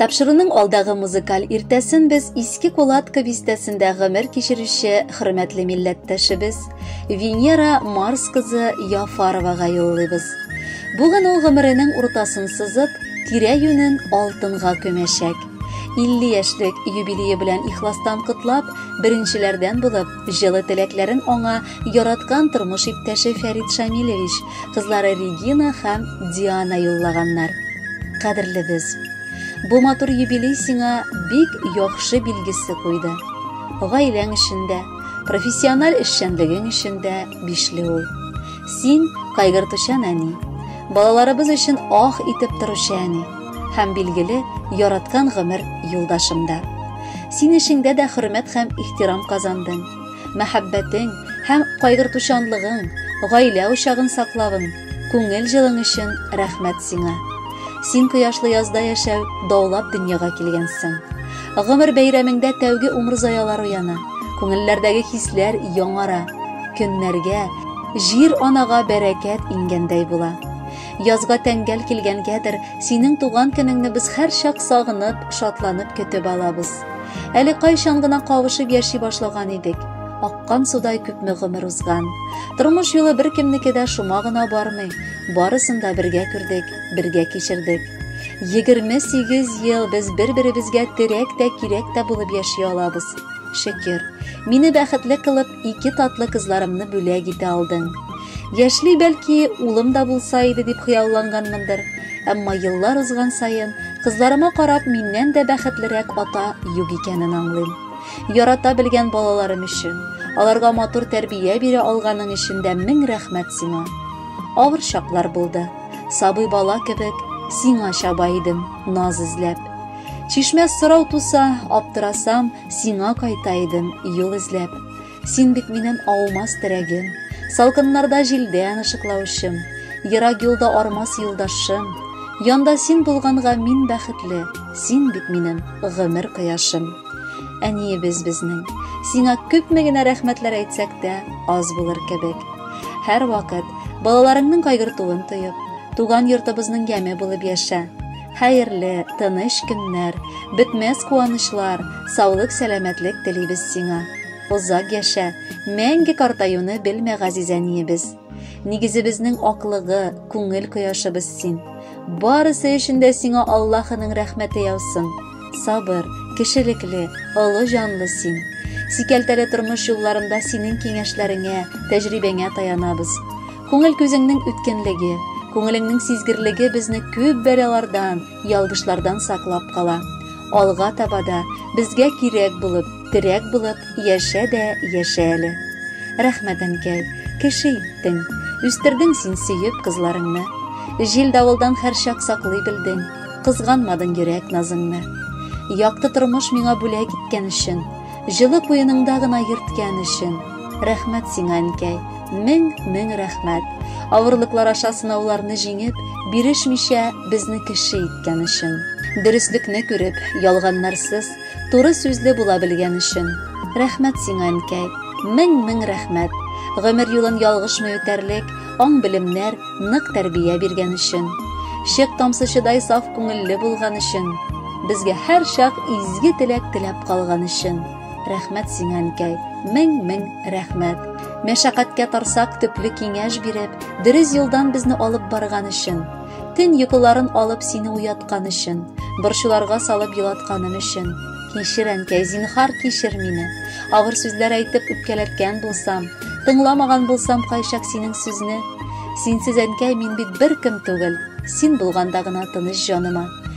Тапшыруның алдагы музыкаль иртәсен без Иске Кулатка бистәсендә гомер кичерүче хөрмәтле милләттәшебез Венера Марс кызы Яфаровага юллыйбыз. Бүген ул гомеренең уртасын сызып, тирә-юнен алтынга көмәшәк. 50 яшьлек юбилее белән ихластан котлап, беренчеләрдән булып җылы теләкләрен аңа яраткан тормыш иптәше Фәрит Шамилевич кызлары Регина һәм Диана юллаганнар. Кадерле без. Бу матур юбилей сиңа бик яхшы билгесе куйды. Гаиләң эчендә, профессиональ эшчәнлегең эчендә бишле ул. Син кайгыртучан әни, балаларыбыз өчен ах итеп торучы әни һәм билгеле яраткан гомер юлдашымда. Син эшеңдә дә хөрмәт һәм ихтирам казандың. мәхәббәтең һәм кайгыртучанлыгың, гаилә учагын саклавың, күңел җылың өчен рәхмәт сиңа. Син кояшлы язда яшәү даулап дөньяга килгәнсең. Гомер бәйрәмеңдә тәүге умыр заялар уяна, күңелләрдәге хисләр яңара, көннәргә, җир анага бәрәкәт иңгәндәй була. Язга тәңгәл килгәнгәдер, синең туган көнеңне без һәрчак сагынып, шатланып көтеп алабыз. Әле кайчан гына кавышып яши башлаган идек. Аккан судай күпме гомер узган. Тормыш юлы беркемнеке дә шома гына бармый. Барысын да бергә күрдек, бергә кичердек. 28 ел без бер-беребезгә терәк тә, кирәк тә булып яши алабыз. Шөкер, мине бәхетле кылып, ике татлы кызларымны бүләк итә алдың. Яшьли бәлки улым да булса иде дип хыялланганмындыр. Әмма еллар узган саен кызларыма карап миннән дә бәхетлерәк ата юк икәнен аңлыйм. Ярата белгән балаларым өчен, аларга матур тәрбия бирә алганың өчен дә мең рәхмәт сиңа. Авыр чаклар булды. Сабый бала кебек сиңа чаба идем, наз эзләп. Чишмә сорау туса, аптырасам, сиңа кайта идем, юл эзләп. Син бит минем аумас терәгем, Салкыннарда җилдән ышыклаучым, Ерак юлда армас юлдашым, Янда син булганга мин бәхетле, Син бит минем гомер кояшым. Әниебез безнең, сиңа күпме генә рәхмәтләр әйтсәк тә, аз булыр кебек. Һәр вакыт балаларыңның кайгыртуын тоеп, туган йортыбызның яме булып яшә. Хәерле, тыныч көннәр, бетмәс куанычлар, саулык, сәламәтлек телибез сиңа. Озак яшә, мәңге картаюны белмә газизәниебез. Нигезебезнең аклыгы, күңел кояшыбыз син. Барысы өчен дә сиңа Аллаһының рәхмәте яусын. Сабыр, кешелекле, олы җанлы син. Сикәлтәле тормыш юлларында синең киңәшләреңә, тәҗрибәңә таянабыз. Күңел күзеңнең үткенлеге, күңелеңнең сизгерлеге безне күп бәлалардан, ялгышлардан саклап кала. Алга таба да безгә кирәк булып, терәк булып яшә дә яшә әле. Рәхмәт, әнкәй, кеше иттең, үстердең син сөеп кызларыңны. Җил давылдан һәрчак саклый белдең, кызганмадың йөрәк назыңны. Якты тормыш миңа бүләк иткән өчен, җылы куеныңда гына йөрткән өчен, Рәхмәт сиңа, әнкәй, мең мең рәхмәт. Авырлыклар аша сынауларны җиңеп, бирешмичә безне кеше иткән өчен. Дөреслекне күреп, ялганнарсыз, туры сүзле була белгән өчен. Рәхмәт сиңа, әнкәй, мең мең рәхмәт. Гомер юлын ялгышмый үтәрлек, аң белемнәр, нык тәрбия биргән өчен. Шек тамсычыдай саф күңелле булган өчен. Безгә һәр чак изге теләк теләп калган өчен. Рәхмәт сиңа, әнкәй, мең-мең рәхмәт. Мәшәкатькә тарсак төпле киңәш биреп, дөрес юлдан безне алып барган өчен. Төн йокыларын алып сине уяткан өчен, борчуларга салып елатканым өчен. Кичер, әнкәй, зинхар кичер мине. Авыр сүзләр әйтеп үпкәләткән булсам, тыңламаган булсам кайчак синең сүзне. Синсез, әнкәй, мин бит беркем түгел. Син булганда гына тыныч җаныма.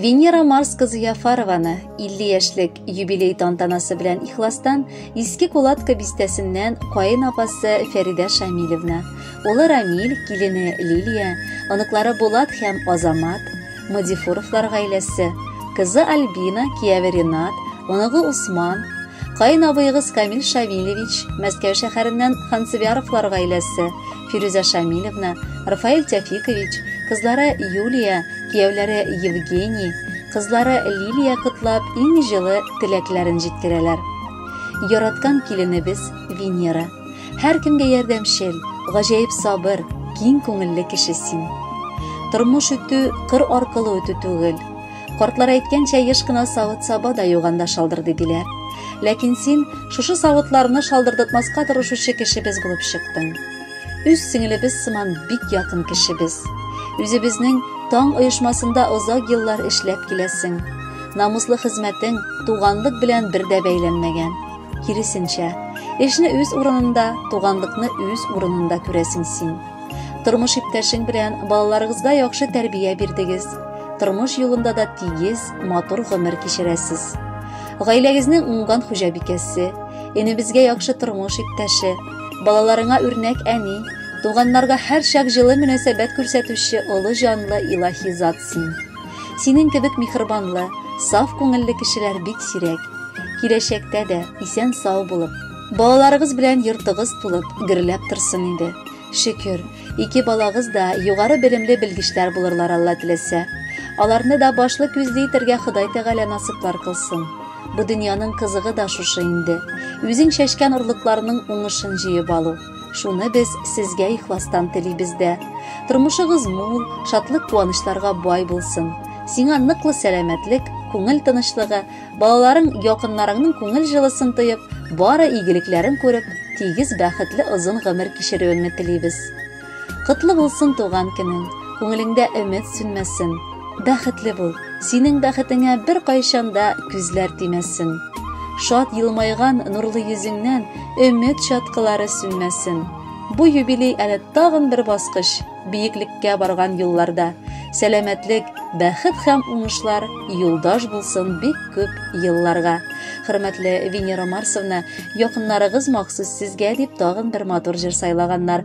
Венера Марс кызы Яфарованы 50 яшьлек юбилей тантанасы белән ихластан Иске Кулатка бистәсеннән каен апасы Фәридә Шамилевна, Улы Рамиль, килене Лилия, оныклары Булат һәм Азамат, Мадифуровлар гаиләсе, кызы Альбина, кияве Ренат, оныгы Усман, каен абыегыз Камил Шамилевич, Мәскәү шәһәреннән Хансыбяровлар гаиләсе, Фирүзә Шамилевна, Рафаэль Тәфикович, кызлары Юлия, кияүләре Евгений, кызлары Лилия котлап иң җылы теләкләрен җиткерәләр. Яраткан киленебез Венера. Һәркемгә ярдәмчел, гаҗәеп сабыр, киң күңелле кеше син. Тормыш үтү кыр аркылы үтү түгел. Картлар әйткәнчә, еш кына савыт саба да юганда шалдырды диләр. Ләкин син шушы савытларны шалдырдытмаска тырышучы кешебез булып чыктың. Үз сеңелебез сыман бик якын кешебез. Үзебезнең Таң оешмасында озак еллар эшләп киләсең. Намуслы хезмәтең туганлык белән бер дә бәйләнмәгән. Киресенчә, эшне үз урынында, туганлыкны үз урынында күрәсең син. Тормыш иптәшең белән балаларыгызга яхшы тәрбия бирдегез. Тормыш юлында да тигез, матур гомер кичерәсез. Гаиләгезнең уңган хуҗабикәсе, энебезгә яхшы тормыш иптәше, балаларыңа үрнәк әни, туганнарга һәрчак җылы мөнәсәбәт күрсәтүче олы җанлы илаһи зат син. Синең кебек михрбанлы, саф күңелле кешеләр бик сирәк. Киләчәктә дә исән сау булып, балаларыгыз белән йортыгыз тулып, гөрләп торсын инде. Шөкер, ике балагыз да югары белемле белгечләр булырлар Алла теләсә. Аларны да башлы күзле итәргә Ходай Тәгалә насыйплар кылсын. Бу дөньяның кызыгы да шушы инде. Үзең чәчкән орлыкларның уңышын җыеп алу. Шуны без сезгә ихластан телибез дә. Тормышыгыз мул, шатлык куанычларга бай булсын. Сиңа ныклы сәламәтлек, күңел тынычлыгы, балаларың, якыннарыңның күңел җылысын тоеп, бары игелекләрен күреп, тигез бәхетле озын гомер кичерүеңне телибез. Котлы булсын туган көнең, күңелеңдә өмет сүнмәсен. Бәхетле бул, синең бәхетеңә бер кайчанда күзләр тимәсен. Шат елмайган нурлы йөзеңнән өмет чаткылары сүнмәсен. Бу юбилей әле тагын бер баскыч, биеклеккә барган юлларда. Сәламәтлек, бәхет һәм уңышлар юлдаш булсын бик күп елларга. Хөрмәтле Венера Марсовна, якыннарыгыз махсус сезгә дип тагын бер матур җыр сайлаганнар.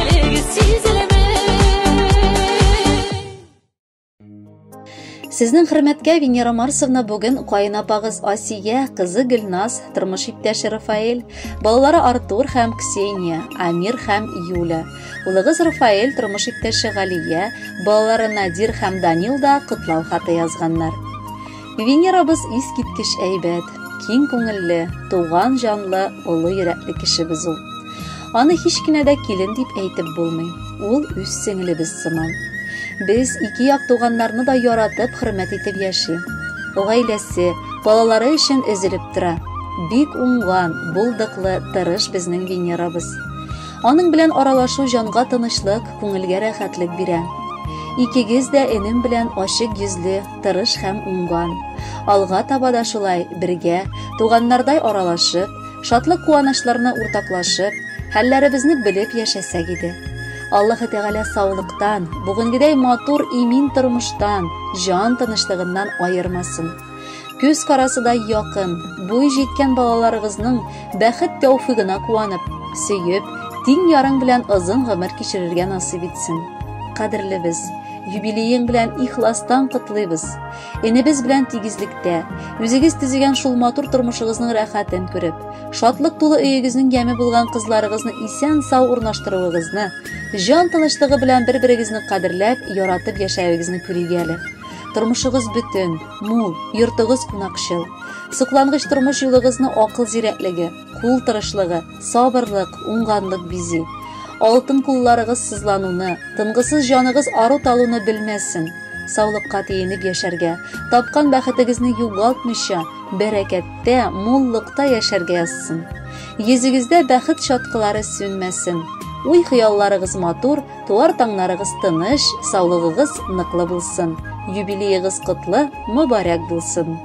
Сезнең хөрмәткә Венера Марсовна бүген каен апагыз Асия, кызы Гөлназ, тормыш иптәше Рафаэль, балалары Артур һәм Ксения, Амир һәм Юля, улыгыз Рафаэль, тормыш иптәше Галия, балалары Надир һәм Данил да котлау хаты язганнар. Венерабыз искиткеч әйбәт, киң күңелле, туган җанлы, олы йөрәкле кешебез ул. Аны һич кенә дә килен дип әйтеп булмый. Ул үз сеңлебез сыман. Без ике як туганнарны да яратып, хөрмәт итеп яши. Гаиләсе, балалары өчен өзелеп тора. Бик уңган, булдыклы, тырыш безнең Венерабыз. Аның белән аралашу җанга тынычлык, күңелгә рәхәтлек бирә. Икегез дә энем белән ачык йөзле, тырыш һәм уңган. Алга таба да шулай бергә, туганнардай аралашып, шатлык-куанычларны уртаклашып, хәлләребезне белеп яшәсәк иде. Аллаһы Тәгалә саулыктан, бүгенгедәй матур имин тормыштан, җан тынычлыгыннан аермасын. Күз карасыдай якын, буй җиткән балаларыгызның бәхет тәүфигына куанып, сөеп, тиң ярың белән озын гомер кичерергә насыйп итсен. Кадерлебез, Юбилеең белән ихластан котлыйбыз. Энебез белән тигезлектә, үзегез төзегән шул матур тормышыгызның рәхәтен күреп, шатлык тулы өегезнең яме булган кызларыгызны исән сау урнаштыруыгызны, җан тынычлыгы белән бер-берегезне кадерләп, яратып яшәвегезне күрик әле. Тормышыгыз бөтен, мул, йортыгыз кунакчыл. Соклангыч тормыш юлыгызны акыл зирәклеге, Кул тырышлыгы, сабырлык, уңганлык бизи. Алтын кулларыгыз сызлануны, тынгысыз җаныгыз ару талуны белмәсен. Саулыкка тиенеп яшәргә, тапкан бәхетегезне югалтмыйча, бәрәкәттә, муллыкта яшәргә язсын. Йөзегездә бәхет чаткылары сүнмәсен. Уй хыялларыгыз матур, туар таңнарыгыз тыныч, саулыгыгыз ныклы булсын. Юбилеегыз котлы, мөбарәк булсын.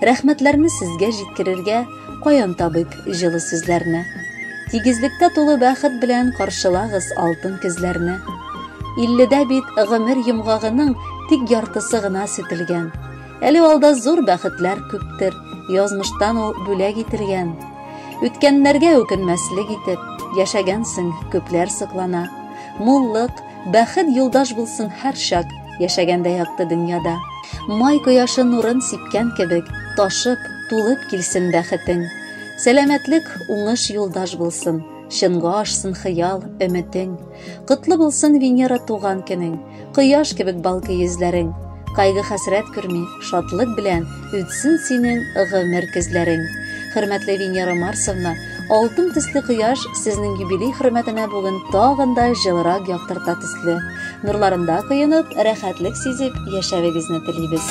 Рәхмәтләрне сезгә җиткерергә каян табыйк җылы сүзләрне? Тигезлектә тулы бәхет белән каршылагыз алтын көзләрне. Илледә бит гомер йомгагының тик яртысы гына сүтелгән. Әле алда зур бәхетләр күптер, язмыштан ул бүләк ителгән. Үткәннәргә үкенмәслек итеп, яшәгәнсең, күпләр соклана. Муллык, Бәхет юлдаш булсын һәр чак, яшәгәндә якты дөньяда. Май кояшы нурын сипкән кебек, ташып, тулып килсен бәхетең. Сәламәтлек, уңыш юлдаш булсын. Чынга ашсын хыял, өметең. Котлы булсын Венера туган көнең. Кояш кебек балкый йөзләрең. Кайгы хәсрәт күрми, шатлык белән Үтсен синең гомер көзләрең. Хөрмәтле Венера Марсовна, алтын төсле кояш сезнең юбилей хөрмәтенә бүген тагын да җылырак яктырта төсле. Нурларында коенып, рәхәтлек сизеп яшәвегезне телибез.